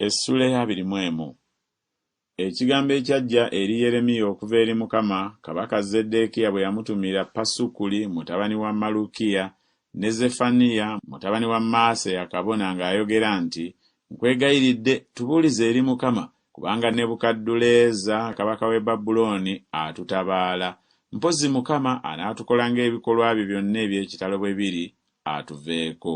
Essula eya abiri mu emu. Ekigambo ekyajja eri Yeremiya okuva eri Mukama, kabaka Zeddeekiya bwe yamutumira Pasukuli mutabani wa Malukiya ne Zefaniya mutabani wa Maaseya kabona ng'ayogera nti, Nkwegayiridde, tubuulize eri Mukama, kubanga Nebukadduleeza kabaka w'e Babulooni atutabaala. Mpozzi Mukama anaatukola ng'ebikolwa bye byonna eby'ekitalo bwe biri, atuveeko.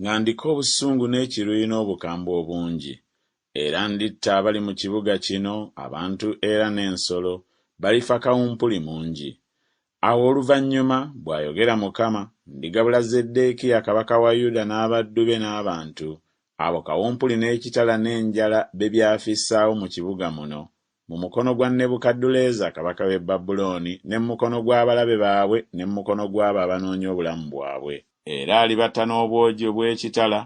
Nga ndiko obusungu n'ekiruyi n'obukambwe obungi, era nditta abali mu kibuga kino, abantu era n'ensolo, balifa kawumpuli mungi. Awo oluvannyuma, bw'ayogera Mukama, ndigabula Zeddeekiya kabaka wa Yuda n'abaddu be n'abantu, abo kawumpuli n'ekitala n'enjala bye byafissaawo mu kibuga muno, mu mukono gwa Nebukadduleeza kabaka w'e Babulooni, ne mu mukono gw'abalabe baabwe, ne mu mukono gw'abo abanoonya obulamu bwabwe. Era alibatta n'obwogi obw'ekitala,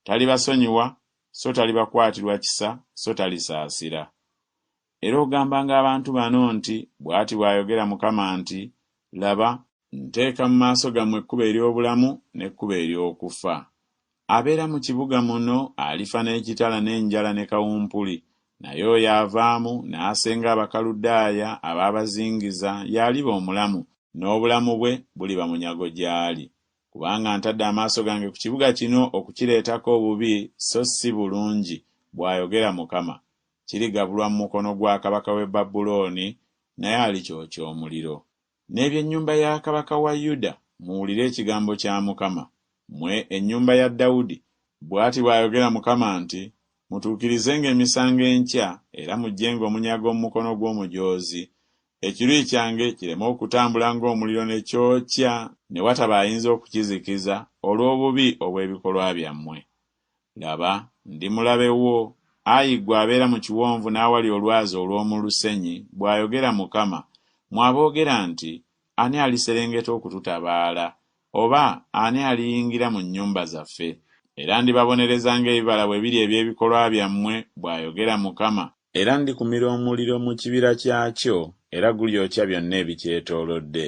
talibasonyiwa, so talibakwatirwa kisa, so talisaasira. Era ogambanga abantu bano nti, Bw'ati bw'ayogera Mukama nti, Laba, Nteeka mu maaso gammwe ekkubo ery'obulamu n'ekkubo ery'okufa. Abeera mu kibuga muno alifa n'ekitala n'enjala ne kawumpuli, naye oyo avaamu n'asenga Abakaludaaya abaabazingiza y'aliba omulamu, n'obulamu bwe buliba munyago gy'ali. Kubanga ntadde amaaso gange ku kibuga kino okukireetako obubi so si bulungi, bw'ayogera Mukama. Kirigabulwa mu mukono gwa kabaka w'e Babulooni, naye alikyokya omuliro. N'eby'ennyumba ya kabaka wa Yuda, muwulire ekigambo kya Mukama, mmwe ennyumba ya Dawudi. Bw'ati bw'ayogera Mukama nti, Mutuukirizenga emisango enkya era muggyenga omunyago mu mukono gw'omujoozi, ekiruyi kyange kireme okutambula ng'omuliro ne kyokya ne wataba ayinza okukizikiza olw'obubi obw'ebikolwa byammwe. Laba, ndi mulabe wo, ayi ggwe abeera mu kiwonvu n'awali olwazi olw'omu lusenyi, bw'ayogera Mukama, mmwe aboogera nti, Ani aliserengeta okututabaala? Oba ani aliyingira mu nnyumba zaffe? Era ndibabonereza ng'ebibala bwe biri eby'ebikolwa byammwe, bw'ayogera Mukama. Era ndikumira omuliro mu kibira kyakyo, era gulyokya byonna ebikyetoolodde.